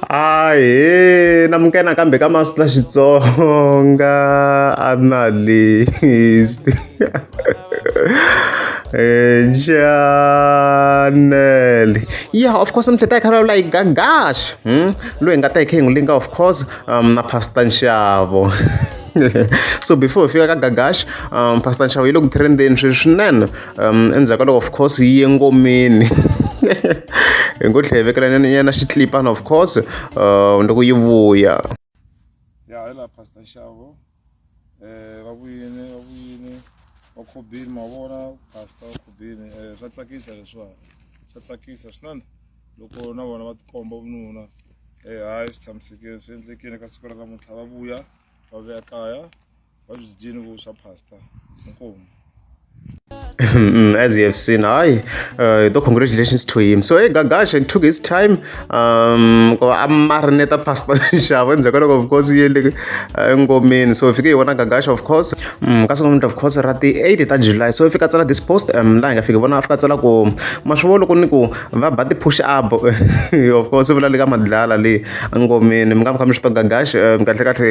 Ahee na muka nakambe ka Master Xitsonga a na list Janel yeah of course mthetha hi khara like gagash hmm? loyi nga ta hi khe hi n'wi linga of course um, na Pastor Nxavo so before hi fika ka gagash um, Pastor Nxavo yi le ku trendeni sweswi swinene um endzhaku ka loko of course yi ye ngomeni hi ngo tlhe hi vekelanyana nyana xitlipana of course um loko yi vuya ya hi laha pastor xavo um va vuyini va vuyini va khobini ma vona pastor va khobini um swa tsakisa leswiwani swa tsakisa swinene loko na vona va tikomba vununa um hayi swi tshamisekile swi endlekile ka siku ra namuntlha va vuya va vuya kaya Mm, as you have seen hayi uh, though congratulations to him so hey gagasha it took his time um amarineta pastor nxavo endzhaku ka loko of course yele engomeni so fike hi vona gagasha of course mm, ka sungula of course ra ti-8 ta july so fika tsala this post um laha hi nga fiki vona a fika tsala ku ma swi vona ku ni ku va ba ti-push up of course vula le ka madlala le engomeni mi nga mi kha mi swi to gagasha um kahle kahle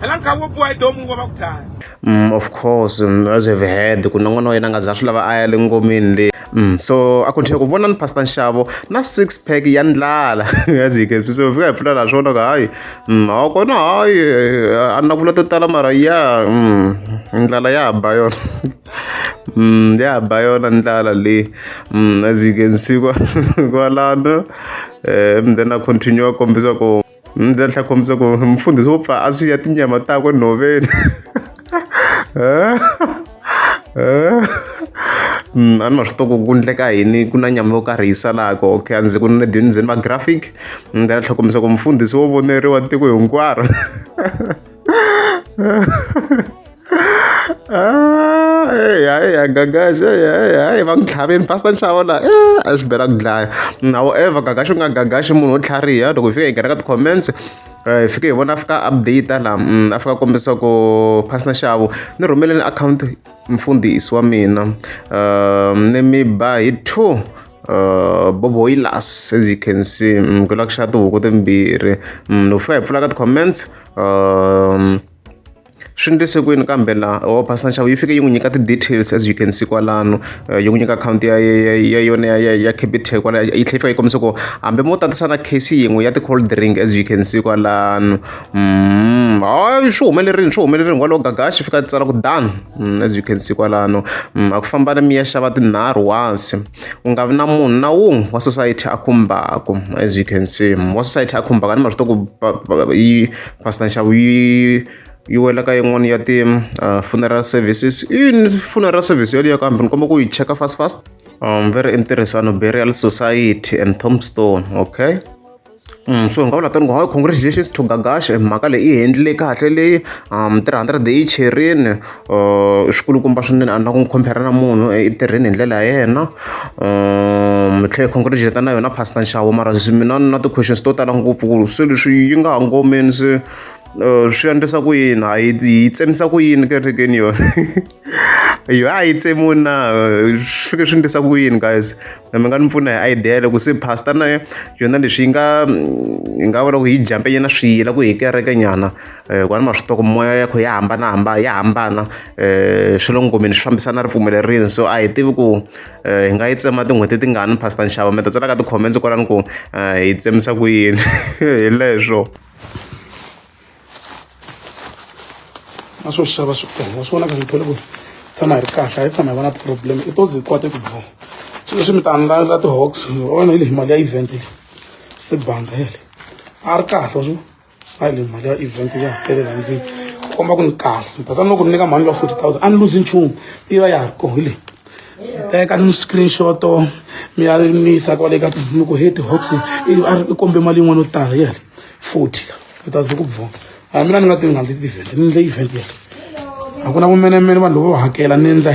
phela nkhavi wo biwa hi domu wa va ku dlaya mm, of course mm, as have heard ku na n'wana wa yena nga za swi lava a ya le ngomeni leyi Mm, so a continue ku vona ni pastor nxavo na six pack ya ndlala as you can see so fika hi pfula laha swona ku hayi mm, a kona hayi a na vula to tala mara ya mm, ndlala ya ba yona mm, ya ba yona ndlala leyi mm, as you can see kwalano um eh, then a continue a kombisa ku Ni ta tlhela kombisa ku mfundhisi wo pfa a siya tinyama takwe nhoveni Mm, a ni ma swi toko ku endleka yini ku na nyama yo karhi yi salaka okay a ndzi ku ni dyondzeni va graphic ni ta tlhela kombisa ku mfundhisi wo voneriwa tiko hinkwaro Ah, ya gagaxa ya va ku tlhaveni pastor nxavo la eh, a swi bela ku dlaya however gagaxa u nga gagaxi munhu wo tlhariha loko hi fika hi nghena ka ti-comments hi eh, fike hi vona a fika update la mm, a fika kombisa ku pastor nxavo ni rhumeleni akhawunti mfundhisi wa mina um ni mi ba hi two Uh, bobo yi las as you can see mm, ku la ku xava tihuku timbirhi mm, loko fika hi pfula ka ti-comments um, swi ndlise kwini kambe la o oh, pastor nxavo yi fike yi n'wi nyika ti-details as you can see kwalano eh, yi n'wi nyika akhawunti ya ya yona ya ya capital kwala yi tlhela yi fika yi kombisa ku hambi mo tatisa na case yin'we ya ti-cold drink as you can see kwalano mm, hayi swi humelerile swi humelerile ngwalo gagaxi fika tsala ku done Mm, as you can see kwalano mm, a ku famba mi ya xava tinharhu once ku nga vi na munhu na wun'we wa society a khumbaka as you can see mm, wa society a khumbaka ni marito ku yi pastor nxavo yi yi wela ka yin'wana ya ti-funeral uh, services yini funeral service yoliyo kambe ni komba ku yi cheka fast fast um very interesting burial society and tombstone okay so hi nga vula tanihi hi congratulations to Gagash mhaka leyi i handle kahle leyi three hundred yi cherile i swikulukumba swinene a ni na ku n'wi compare na munhu i tirheni hi ndlela ya yena ni tlhela hi congratulate na yona pastor nxavo mara mina ni na ti-questions to tala ngopfu ku se leswi yi nga ha ngomeni se swi endlisa ku yini ha yi yi tsemisa ku yini kerekeni yona. Yha hi tsemiwini na swi fike swi endlisa ku yini guys mi nga ni pfuna hi idea loko se pastor na yona leswi yi nga yi nga vula ku yi jampe nyana swiyila ku hi kereke nyana ku a ni ma swi tiva ku moya ya kho ya hambanahambana ya hambana swa le ngomeni swi fambisana ripfumelo rini so a hi tivi ku hi nga yi tsema tin'hweti tingani pastor nxavo mi ta tsala ka ti-comments kwalano ku hi tsemisa ku yini hi leswo. na swo xava switolo swi vonaka ngithole ku tshama hi ri kahle a yi tshama hi va na problem i to ze kwate ku dvuma swi leswi mi ta andlala ti-hawx ona yi le hi mali ya event leyi se banga yele a ri kahle swi a yi le hi mali ya event ya hetelela ndlwini komba ku ni kahle ni ta tsanile ku ni nyika mhani ya forty thousand a ni luzi nchumu yi va ya ha ri kona hi leyi teka ni screenshot mi ya mi yisa kwale ka mi ku heti hox i kombe mali yin'wana yo tala yele forty la u ta ze ku bvona a mina ni nga ti nga ndzi ti-event ni ndle event yele a ku na vumenemene vanhu loko va hakela ni endla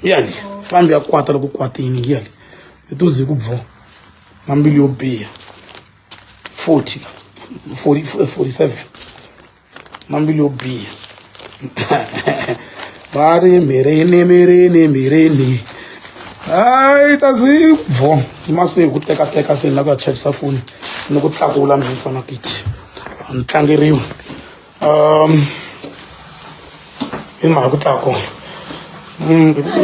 yali fambi ya kwata loko kwatini yali i to ze ku bvo na mbilu yo biha forty la forty forty seven na mbilu yo biha va ri mirini mirini mirini hayi ta zi bvo ma se hi ku tekateka se ni la ku ya chajisa foni ni ku tlakula mi fana kiti a ni tlangeriwi um i mhaka ku tlaka kona mm.